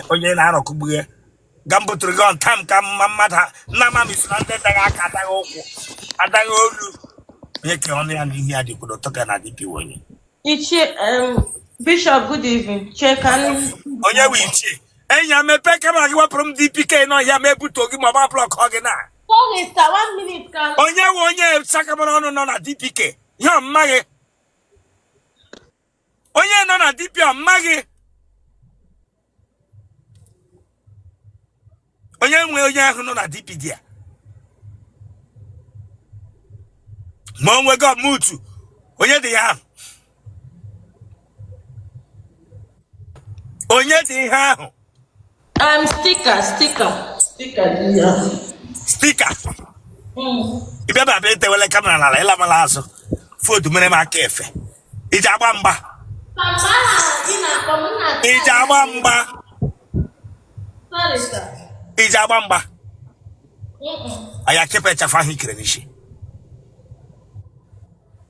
onye na-arọkụgbu ya ka m buturu gị on time ka mma mmadụ nna ma misi na ndị daghị aka adaghị ụkwụ adaghị olu onye ka ọnụ ya na ihe ya dị kwuru ụtọ ga na DP onye Ichie, um, Bishop, good evening. Chair, can onye bụ ichie enyi ya mepee kamera gị wepụrụ m DP ke nọ ya ma ebutuo gị ma ọ bụ blọkọ gị na Sorry, sir, one minute, can onye nwe onye sakamara ọnụ nọ na DP ke ihe ọ mmaghị onye nọ na DP amaghị onye nwe onye ahụ nọ na DP dị ya ma o nwego mutu onye dị ihe ahụ onye dị ihe ahụ Um, sticker, sticker. Sticker, yeah. Sticker. Mm. Ị bịa bịa edewele kamera n'ala ị lamala azụ foto mere m aka efe iji agba mgba iji agba mgba iji agba mgba a ya-ekepụ ịchafụ ahụ i kere n'isi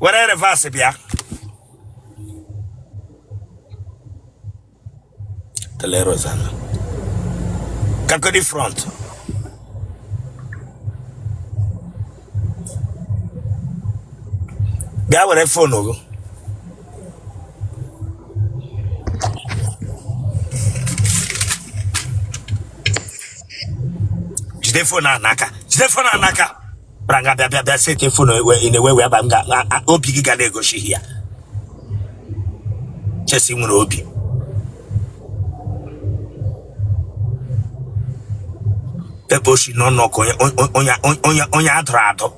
were reverse bịa tele rozana kakodi front bịa were fon gị jide fon a n'aka jide fon a n'aka bara nga bịa bịa bịa setie fon ewe- ị na-ewe wee ba m ga a- a- obi gị ga na-egosi ihe a chest were obi ebe o si nọ nnọọ ka onye onye- onye onye onye a dụrụ adụ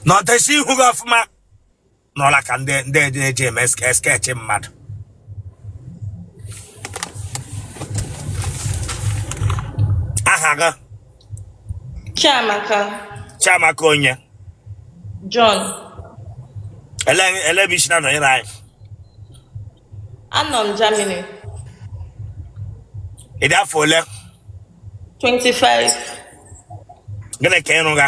na ọdesi ihu gị ọfụma nọla ka ndị ndị eji eji eme ske- sketch mmadụ aha gị Chiamaka Chiamaka onye John ele ele ebe i si na-anọnyere anyị anọ m Germany ị dị afọ ole 25 gịnị ka ị rụga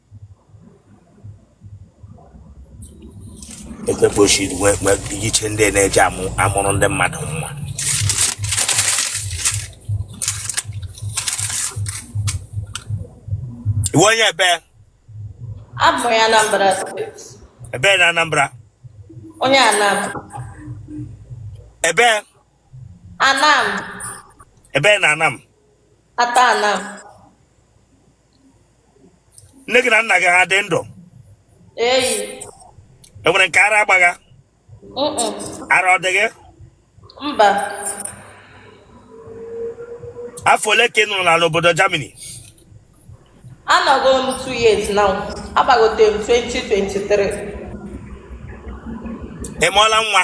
ekpekpochi iche ndị na-eji amụrụ ndị mmadụ nwa ị wụ onye ebe abụ m onye Anambra ebe na Anambra onye Anam ebe Anam ebe na Anam ata Anam nne gị na nna gị ha dị ndụ eyi e nwere nke ara agbagha mm-mm, ara ọ dị gị mba afọ ole ka ị nọrọ n'ala obodo Germany anọgo m 2 years now agbagote m 2023 ị mụọla nwa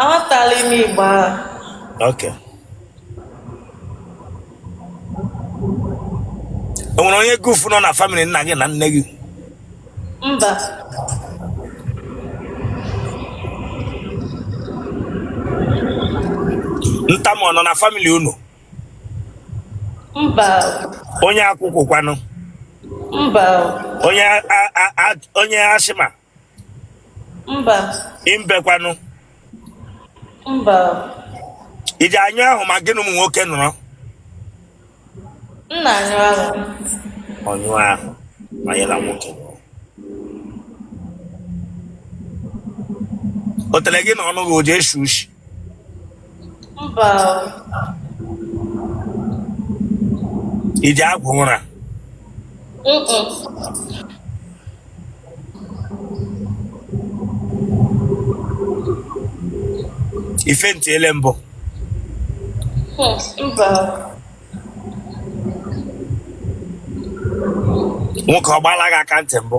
Aghọtala ime Igbo ahụ. Okay. O nwere onye gufu nọ na family nna gị na nne gị? Mba. Ntamu ọ nọ na family unu? Mba. Onye akwụkwụ kwanụ? Mba. Onye a- a- a- onye asthma mba imbe kwanụ mba i ji anyụ ahụ ma gị na ụmụ nwoke nọrọ nna anyụ ahụ ọnyụ ahụ ma ya na nwoke nọrọ otele gị na ọnụ gị o ji eshi ushi mba i ji agwọ ụra i faintiele mbụ mba nwoke ọ gbaala gị aka ntị mbụ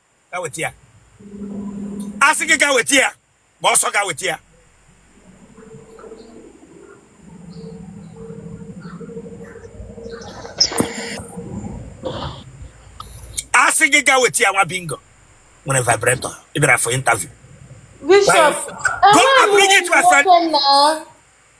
gaa weta ya asị gị gaa weta ya gbaa ọsọ gaa weta ya asị gị gaa weta ya nwa bingo nwere vibrator ị bịara for interview Bishop, Go and bring it to my friend.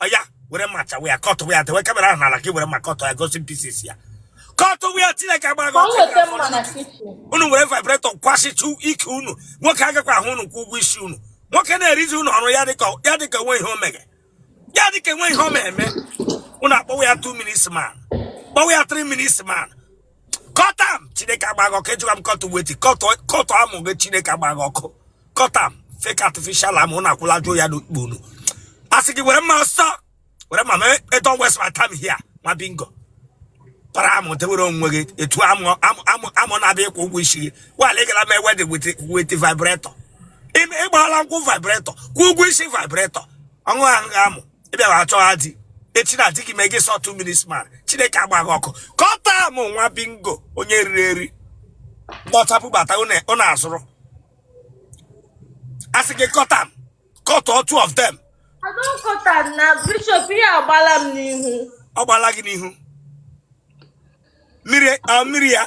oya were mma chaa ya kọtụ ya dewe camera ahụ n'ala gị were mma kọtụ ya gosi pieces ya kọtụ ya chineke agbara gị unu were vibrator kwasịtụ ike unu nwoke agakwa ahụ unu kwụọ ụgwọ isi unu nwoke na-erizi unu ọrụ ya dịka ya dịka enwe ihe o mere ya dịka enwe ihe o mere eme unu akpọwa ya 2 minutes man kpọwa ya 3 minutes man cut am chineke agba gị ọkụ ajụla m kọtụ wetin kọtụ amụ gị chineke agba gị ọkụ cut am fake artificial amụ na akwụla jụ ya n'ikpu unu asị gị were mma ọsọ were mma mee don't waste my time here nwa bingo para amụ dewere onwe gị etu amụ amụ amụ na-abịa ịkwụ ụgwọ isi gị while ị gara mee wedding with vibrator ị gbaala nkwụ vibrator kwụọ ụgwọ isi vibrator ọṅụ ahụ amụ ị bịa chọwa di echi na di gị mee gị ị sị ọ two minutes man chineke agbaa gị ọkụ kọta m nwa bingo onye riri eri kpọchapụ bata ụna- ụna azụrụ asị gị kọta m kọtụọ two of them adọkọta na bishọp ihe agbala m n'ihu ọ gbala gị n'ihu mmiri ọ mmiri ya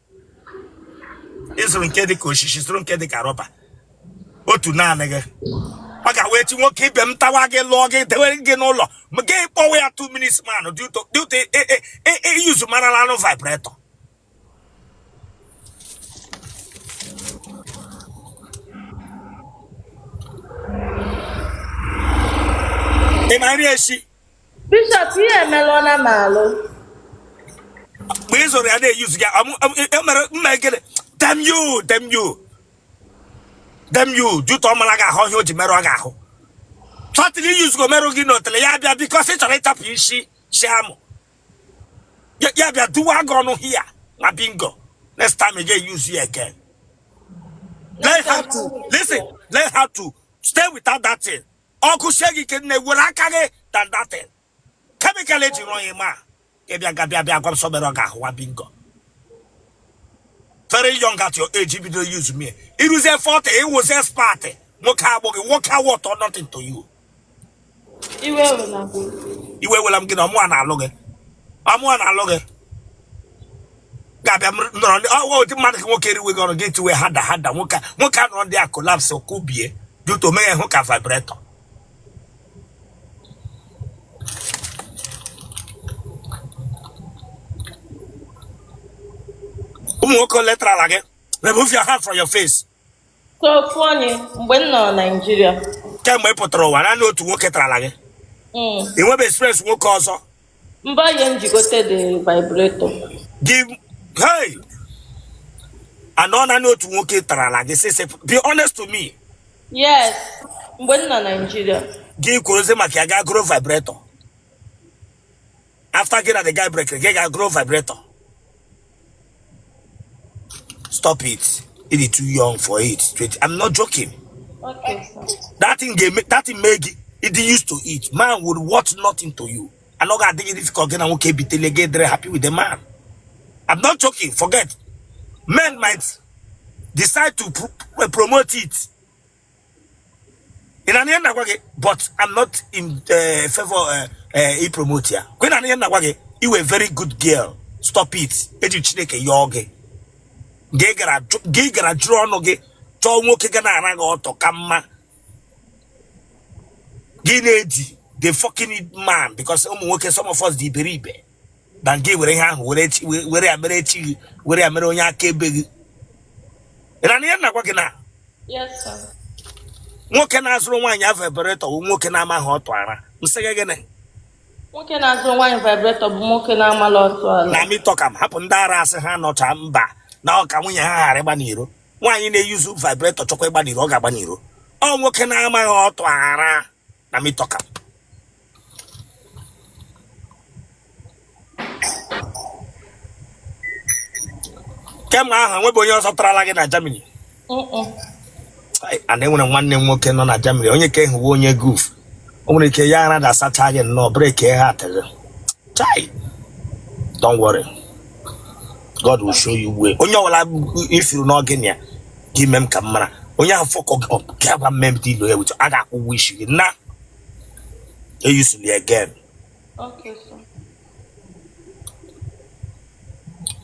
ị zụrụ nke dị ka osisi zụrụ nke dị ka rọba otu naanị gị ọ gawa echi nwoke ibe m tawa gị lụọ gị dewere gị n'ụlọ gị kpọwa ya two minutes man due to i yuzu marala anụ vibrator ị ma nri esi Bishọp ihe emela ọ na m alụ. mgbe ị zụrụ ya na-eyuzu ya amụ- amụ- e- emere mma ekele damn you damn you damn you due to ọ mara gị ahụ ihe o ji merụ gị ahụ tọtịlị i yuzugo merụ gị n'otele ya bịa because ị chọrọ ịtapụ isi si amụ Ya- ya bịa duwa gị ọnụ hia nwa bingo next time ị ga-eyuzu ya again learn how to listen learn how to stay without that thing ọ gụsie gị ike nne were aka gị than that thing chemical e ji rụọ ya ma ị bịa ga-abịa bịa gwa m sị ọ merụọ gị ahụ nwa bingo very young at your age bido yuzuwe i ruzie 40 ị wụzie spatị nwoke abụghị nwoke a worth nothing to you iwe wela m gị na ọ mụa na-alụ gị ọ mụa na-alụ gị ga-abịa nọrọ ndị ọwa ụdị mmadụ ka nwoke eriwe gị ọrụ gị tiwe harder harder nwoke nwoke a nọrọ there a collapse kubie due to mee ya hụ ka vibrator ụmụ nwoke ole tara gị remove your hand from your face Ka ofu onye mgbe m nọ Naịjirịa. Kemgbe ị pụtara ụwa naanị otu nwoke tarala gị. Mm. Ị nwebe experience nwoke ọzọ. Mba ọ ya m ji gote the vibrator. Gị hey na ọ naanị otu nwoke tarala gị since be honest to me. Yes mgbe m nọ Naịjirịa. Gị kworozie maka ya gaa goro vibrator. after gị na the guy break gị gaa goro vibrator stop it ị dị too young for it Twenty- i'm not joking Okay, sir. that thing ga that thing mee gị ị dị used to it man would worth nothing to you and ọ ga-adị difficult gị na nwoke bitele gị dịrị happy with the man i'm not joking forget men might decide to pr- promote it ị na-anụ ihe m na-agwa gị but I'm not in uh, favor uh, uh, ipromote ya kwa ị na-anụ ihe m na-agwa gị ị wụ a very good girl stop it eji chineke yọọ gị gị gara jụrụ ọnụ gị chọọ nwoke ga na-ara gị ọtụ ka mma gị na-edi the fucking man because ụmụ nwoke some of us dị iberibe than gị were ihe ahụ were ya mere chi gị were ya mere onye akaebe gị ị na-anụ ihe m na-agwa gị na nwoke na-azụrụ nwaanyị a vibrator bụ nwoke na-amaghị ọtụ ara m sị gị gịnị nwoke na-azụrụ nwaanyị vibrator bụ nwoke na-amaghị ọtụ ara na me talk am hapụ ndị ara asị ha nọcha mba na ọ ka nwunye ha ghara ịgba n'iro nwaanyị na-euse vibrator chọkwa ịgba n'iro ọ ga-agba n'iro ọ nwoke na-amaghị ọtụ ara na me talk am. kemgbe ahụ nwebe onye ọzọ tarala gị na Germany and e nwere nwanne m nwoke nọ na Germany onye ka ehuwe onye guf o nwere ike ya aradasacha gị nnọọ break ya heart chai don't worry God will show you way onye ọwụla ị fụrụ n'ọgịnị ya gị mee m ka m mara onye ahụ fuck gị up gị agwa m m edeal ya with a ga-akwụ ụgwọ isi gị na eusele ya again Okay, sir.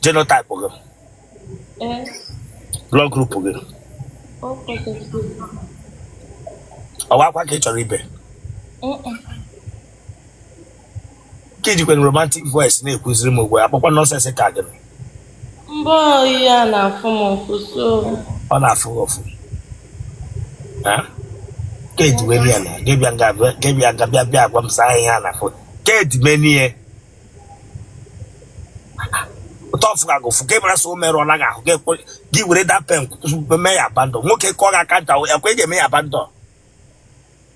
genotype gị Eh, blood group gị okay, sir. ọ wụ akwa ka ị chọrọ ibe Mm-mm. ka i jikwa romantic voice na-ekwuziri m ugbu a akpọkwa nonsense ka gịnị mbọ ya na-afụ m ụfụ so ọ na-afụ gị ụfụ Ha? ka edimeni ya na gị abịa nga gị abịa nga bịa bịa agwa m sir ihe a na-afụ ka edimeni ya ụtọ ọ fụkaa gị ụfụ ka ị mara sọ o merụ ọ naghị ahụ gị ekwe- gị were that pain mee ya abandon nwoke kụọ gị aka nta ekwe ga-eme ya abandon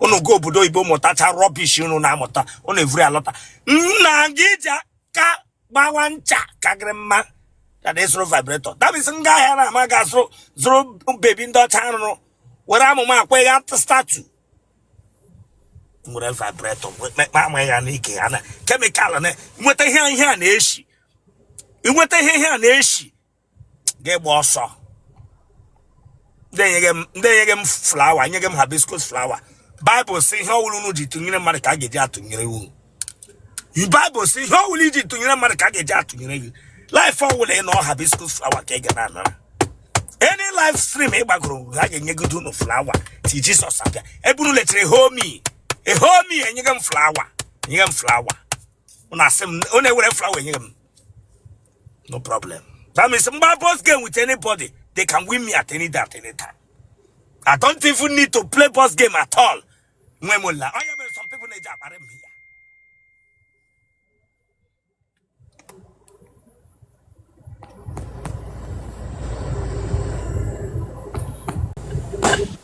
unu gaa obodo oyibo mụtacha rubbish unu na-amụta unu evuru alọta na gị iji aka gbawa ncha ka gịrị mma than ịzụrụ vibrator that means m gaa ahịa na ama ga zụrụ zụrụ baby ndị ọcha arụrụ were amụ m akwa ya statue nwere vibrator mekpa ama ya n'ike ya na chemical i nweta ihe ihe a na-eshi inweta ihe ihe a na-eshi gị agbaa ọsọ ndị enyeghị m ndị enyeghị m flower enyeghị m hibiscus flower Bible sị ihe ọwụla unu ji tụnyere mmadụ ka a ga-eji atụnyere unu Bible sị ihe ọwụla i ji tụnyere mmadụ ka a ga-eji atụnyere gị live ọwụla ị nọ hibiscus flower ka ị ga na-anara any live stream ị gbagoro ha ga-enyegide unu flower till Jesus abịa ebe unu letere homi ehomi enyeghị m flower enyeghị m flower unu asị m unu ewere flower enyeghị m no problem that means my boss game with anybody they can win me at any time at any time i don't even need to play boss game at all nwe mo la oya mere some people na-eji akpara m ya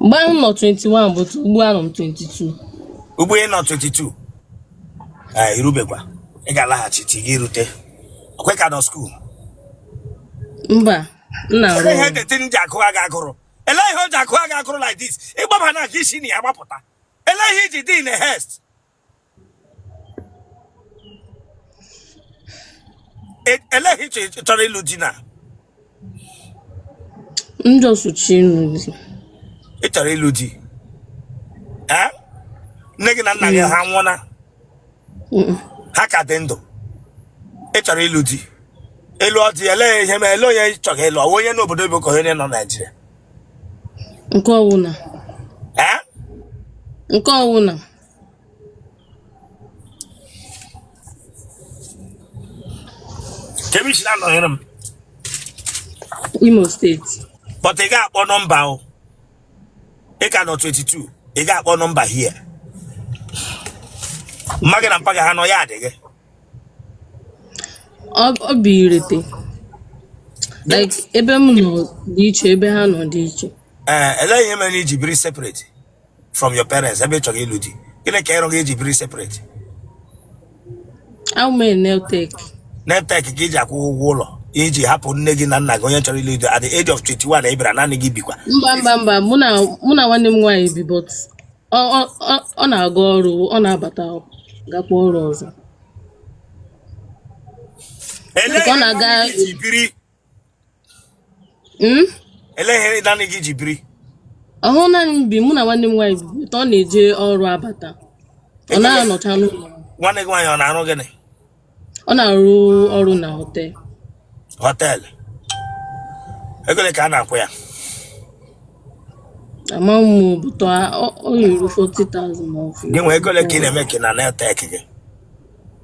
mgbe ahụ nọ 21 but ugbu a nọ m 22 ugbu ị nọ 22 ee irubekwa ị ga-alaghachi ti gị rute ọkwa ị ka nọ skuul mba m na-arụ Olee ihe ọrụ the thing ji agụ gị agụrụ ele ihe o ji agụ gị agụrụ like this ịgbaba na ka i si na ya gbapụta ele ihe iji dị in a haste E- ele ihe ị chọ- chọrọ ịlụ di na Ndị ọsụchi ịlụ di. ị chọrọ ịlụ di ee nne gị na nna gị ha nwụọna Mm-mm. ha ka dị ndụ ị chọrọ ịlụ di ịlụ ọ dị ele ihe ma ele onye ị chọrọ ịlụ ọ wụ onye nọ obodo oyibo ka onye nọ naijiria Nke ọwụna. ee Nke ọwụna. kemishi na-anọnyere m Imo steeti but ị ga-akpọ nọmba o ị ka nọ 22 ị ga-akpọ nọmba hie mma gị na mpa gị ha nọ ya adị gị ọ ọ bụ irete like ebe m nọ dị iche ebe ha nọ dị iche ee elee ihe mere na iji biri separate from your parents ebe ị chọrọ ịlụ di gịnị ka ị rụga iji biri separate I'm a nail tech. nail tech ka iji akwụ ụgwọ ụlọ iji hapụ nne gị na nna gị onye chọrọ ịlụ di at the age of 21 ị bịara naanị gị bikwa Mba mba mba mụ na mụ na nwanne m nwaanyị bi but ọ ọ- ọ ọ na-aga ọrụ ọ na-abata gakwa ọrụ ọzọ. Elee Ọ na-aga- ihe iji biri Hmm? Elee ihe naanị gị ji biri? Ọ wụhụ naanị m bi mụ na nwanne m nwaanyị bi ọ na-eje ọrụ abata. Ọ na-anọcha n'ụlọ. Nwanne gị nwaanyị ọ na-arụ gịnị? Ọ na-arụ ọrụ na họtel. Họtel? Ego ole ka a na-akwụ ya? Ama m but ọ yiri 40,000 ma ọ fụ. Gịnwa ego ole ka ị na-emeke na nail tech gị?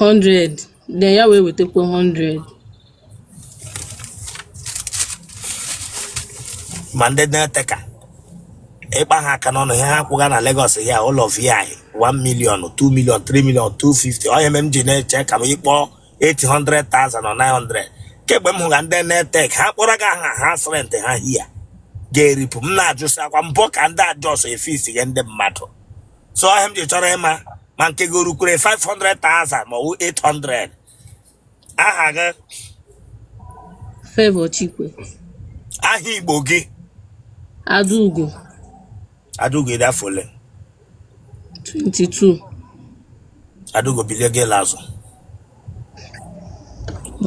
100 then ya wee wetakwa 100 ma ndị nail tech ị kpaa ha aka n'ọnụ ihe ha kwụga na Lagos hia over 1 million 2 million 3 million 250 ọ ihe mere m ji na-eche ka m ịkpọ 800,000 or 900 kemgbe m hụga ndị nail tech ha kpọrọ gị aha house rent ha hia ga-eripụ m na-ajụsị ọkwa mbọ ka ndị a just efixiga ndị mmadụ so ọ ihe m ji chọrọ ịma ma nke gị o rukwere 500,000 ma ọ bụ 800 aha gị Favour Chikwe. aha igbo gị Adaugo. adaugo ị dị afọ ole 22. adaugo bilie gị ịla azụ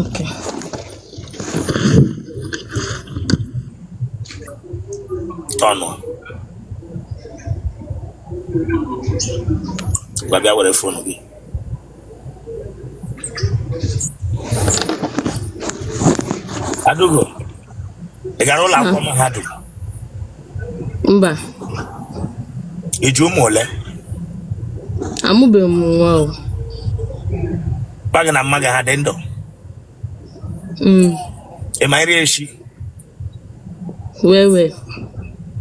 Okay. Tọnụ. Ngwa bịa were fonu gị. Adaugo, ị gara ụlọ akwụkwọ mahadum? mba ị ji ụmụ ole amụbeghị m nwa o mpa gị na mma gị ha dị ndụ Mm, ị ma nri esi well well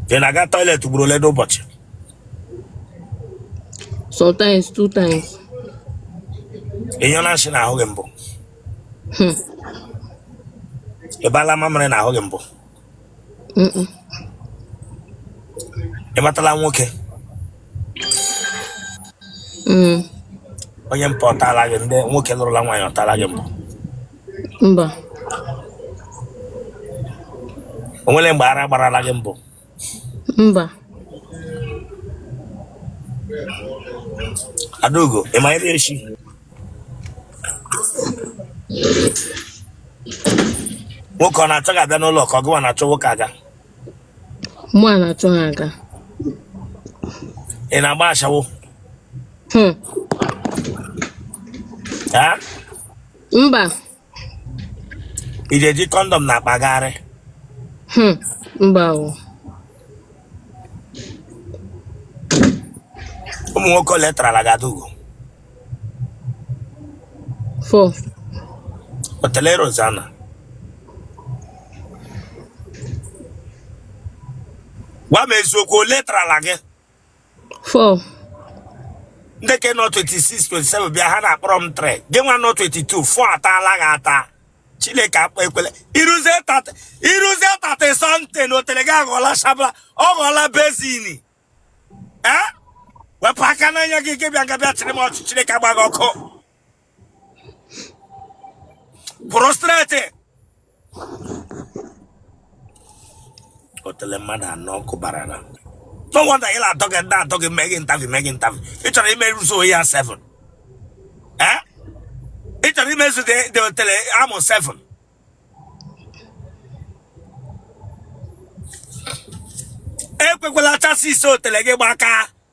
ị na-aga toilet ugboro ole n'ụbọchị sometimes two times ị nyụọna nsị n'ahụ gị mbụ Hmm. ị baala mamịrị n'ahụ gị mbụ ị matala nwoke mm. onye mpa ọ taala gị ndị nwoke lụrụla nwaanyị ọ taala gị mbụ mba o nwere mgbe ara gbarala gị mbụ mba Adaugo, ị ma nri esi nwoke ọ na-achọ gị abịa n'ụlọ ka ọ gụwa na-achọ nwoke aga mụwa na-achọ ha aga ị na-agba ashawo Hmm. ee mba ị ga-eji condom na-akpagharị Hmm, mba o. ụmụ nwoke ole tarala gị Adaugo Four. otele Rosanna gwa m eziokwu ole tarala gị four ndị ke nọ 26 27 bịa ha na-akpọrọ m three gị nwa nọ 22 four ataala gị ata chineke akpa ekwele i ruzie 30 something na otele gị aghọọla shabla ọ ghọọla basin ee wepụ aka n'anya gị gị bịa nga bịa chịrị m ọchị chineke agba gị ọkụ prostrate otele mmadụ anọ kụbarana no wonder ị na-atọ gị ndị atọ gị mee gị interview mee gị interview ị chọrọ imezu ya 7 eh ị chọrọ imezudị otele amụ 7 ekwekwala chassis otele gị gbaka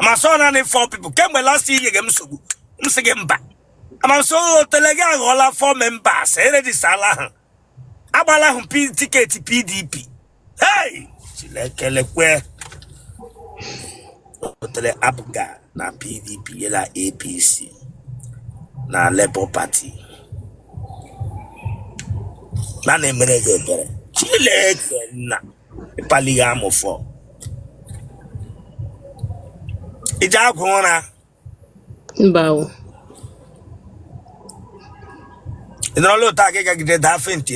ma sọ naanị four people kemgbe last year nyere m nsogbu m sị gị mba ama m sị otele gị aghọọla four members erejistala ha agbala ahụ P- tiketi pdp hey chineke lekwe otele abụga na pdp yela apc na labour party na-emere gị ebere chineke nna ịkpali ya amụfọ i ji agwọ ụra mba o ị nọrọla otu aka ị gagide daa faint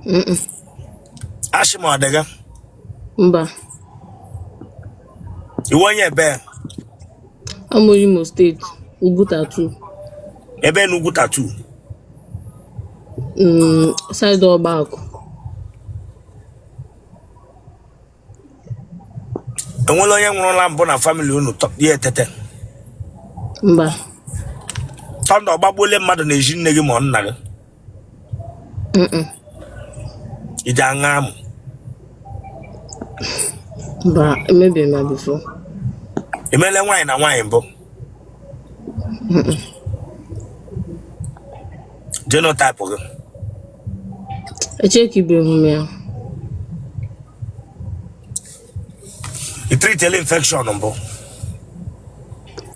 Mm-mm. asthma ọ dị gị mba ị wụ onye ebe Amụ Imo steeti, Ugwu Tatu. Ebe na Ugwu Tatu? Mm, side Ọgbakụ. E nwere onye nwụrụla mbụ na family unu ya etete? Mba. Thunder ọgbagbuole mmadụ n'ezi nne gị ma ọ nna gị? i ji aṅa amụ emebeghị m before i mele nwaanyị na nwaanyị mbụ genotype gị echekibeghị m ya i treatịla infection mbụ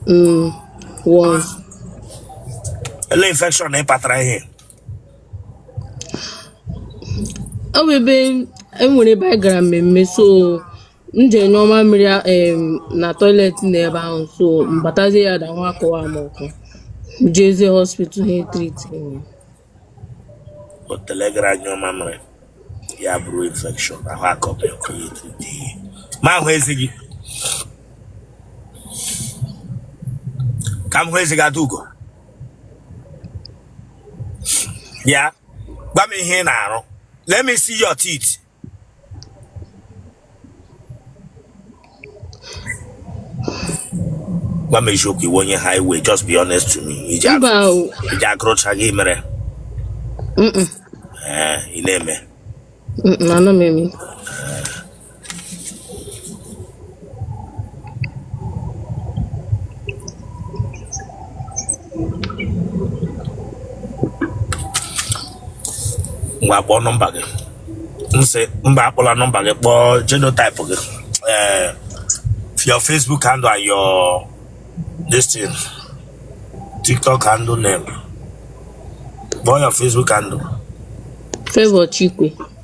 Mm, once. ele infection ị kpatara ihe Ọ bụ ebe e nwere ebe anyị gara mmemme so m je nyụọ mamịrị a- em, na toilet na ebe ahụ so m batazie ya da nwa akọwa m ọkọ jezie hospital ha e-treat otele gara nyụọ mamịrị ya buru infection ahụ akọba ọkọ ya e-treat ihe m ahụ eze gị ka m hụ eze gị Adaugo bịa gwa m ihe ị na-arụ let me see your teeth gwa m eziokwu ị wụ onye highway just be honest to me i ji akụ- mba o i ji akụrụcha gị mere Mm-mm. ee ị na-eme Mm-mm, anọ m eme ngwa kpọọ nọmba gị m sị mba akpọla nọmba gị kpọọ genotype gị ee your facebook handle and your this thing tiktok handle name kpọọ your facebook handle Favour Chikwe.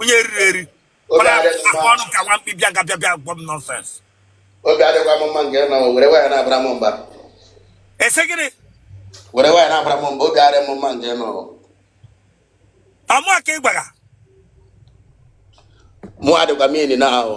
onye riri eri mana akwa ọnụ ka nwa mkpi bịa ga-abịa bịa gwa m nonsense obi adịkwa m mma nke na were waya na-abara m mba ese gịnị were waya na-abara m mba obi adịghị m mma nke nọ ọmụ aka ị gwara mụ adịkwa m ini na ahụ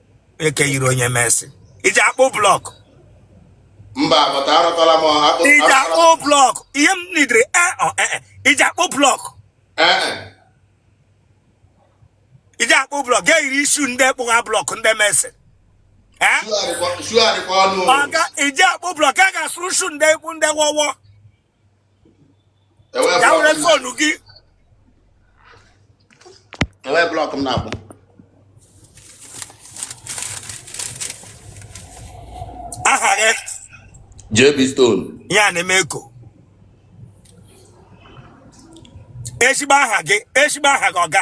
eke yiri onye mason iji akpụ blọk mba bọta arọtọla m akpụ iji akpụ blọk ihe m nidiri e ọ e iji akpụ blọk iji akpụ blọk ga-eyiri ishu ndị kpụgha blọk ndị mason ọga iji akpụ blọk a ga-asụrụ ishu ndị ekwu ndị wọwọ Yàwúrẹ́ fóònù kí. Ẹ̀wẹ́ blọk m na-akpụ. Aha gị? JB Stone. Ya na-eme eko. Ezigbo aha gị, ezigbo aha gị ọga.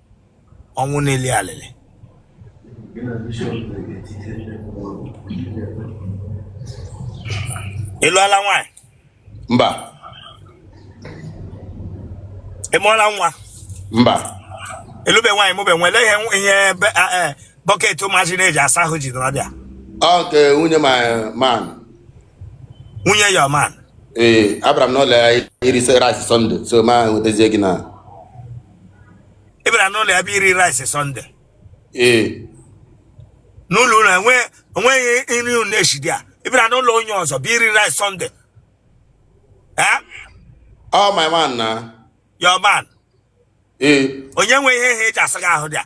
ọnwụ na-eli alịlị ị lụọla nwaanyị mba ị mụọla nwa mba ị lụbe nwaanyị mụbe nwa eleghị ihe bọket ụmụazị na-eji asa ahụ ji nọrọ bịa ọ nke nwunye my man nwunye your man ee abịara m n'ụlọ ya iri rice Sunday so ma nwetazie gị na ị bịara n'ụlọ ya bụ iri rice Sunday ee n'ụlọ ụlọ enwe- enweghị nri unu na-esi dị a ị bịara n'ụlọ onye ọzọ bụ iri rice Sunday Eh? ọ my man na your man ee onye nwe ihe ha eji asa gị ahụ dị a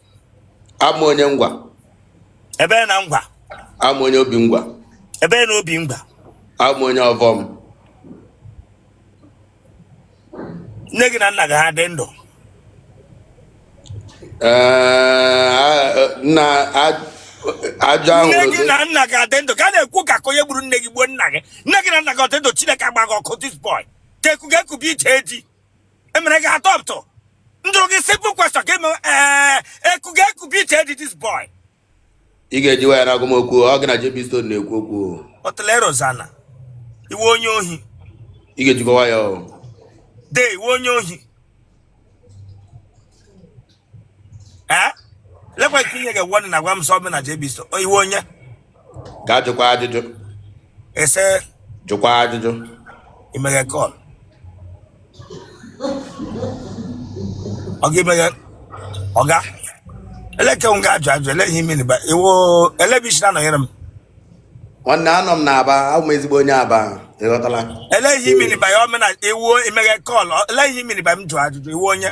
Awụ m onye Ngwa. Ebe na Ngwa. Awụ m onye Obingwa. Ebe na Obingwa. Awụ m onye Ovom. Nne gị na nna gị ha dị ndụ. Nna ajọ ahụ. Nne gị na nna gị ha dị ndụ ka a na-ekwu ka onye gburu nne gị gbuo nna gị. Nne gị na nna gị ọ dị ndụ Chineke agba gị ọkụ this boy. Ka ekwu ga-ekwu bụ ije eji. emere gị atọpụtụ m jụrụ gị simple question ka eme ee eku ga eku bi iche dị this boy ị ga-eji waya na-agwa m okwu ọ gị na JB Stone na-ekwu okwu otele Rozana ị wụ onye ohi ị ga-ejikwa waya o de ị wụ onye ohi ee lekwa ka inye ga-egwa na agwa m sọ na JB Stone ị wụ onye gaa jụkwa ajụjụ ese jụkwa ajụjụ imeghe kọl ọga imeghe ọga eleke m ga-ajụ ajụ ele ihe imiri ba iwo ele bụ isi na-anọnyere m nwanne anọ m n'Aba abụ m ezigbo onye Aba ịghọtala ele ihe imiri ba ya ọmena iwu imeghe kọl ele ihe imiri ba m jụ ajụjụ ị wụ onye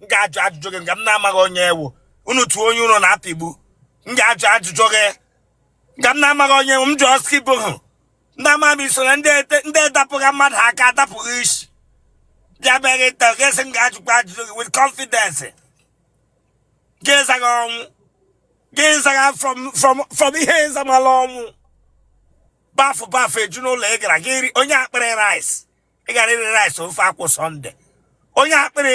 m ga-ajụ ajụjụ gị nga m na-amaghị onye ị wụ unu tụọ onye unu na-apịgbu m ga-ajụ ajụjụ gị nga m na-amaghị onye ị wụ m jụọ Skibo hụ ndị ama m isoro ndị edapụghị mmadụ aka adapụghị isi bịa bịa gị taa gị sị m ga-ajụkwa ajụjụ gị with confidence gị zaghị ọnwụ gị zaghị from from from ihe ị zamala ọnwụ bafụ bafụ eju n'ụlọ ị gara gị onye akpịrị rice ị gara iri rice ofe akwụ Sunday onye akpịrị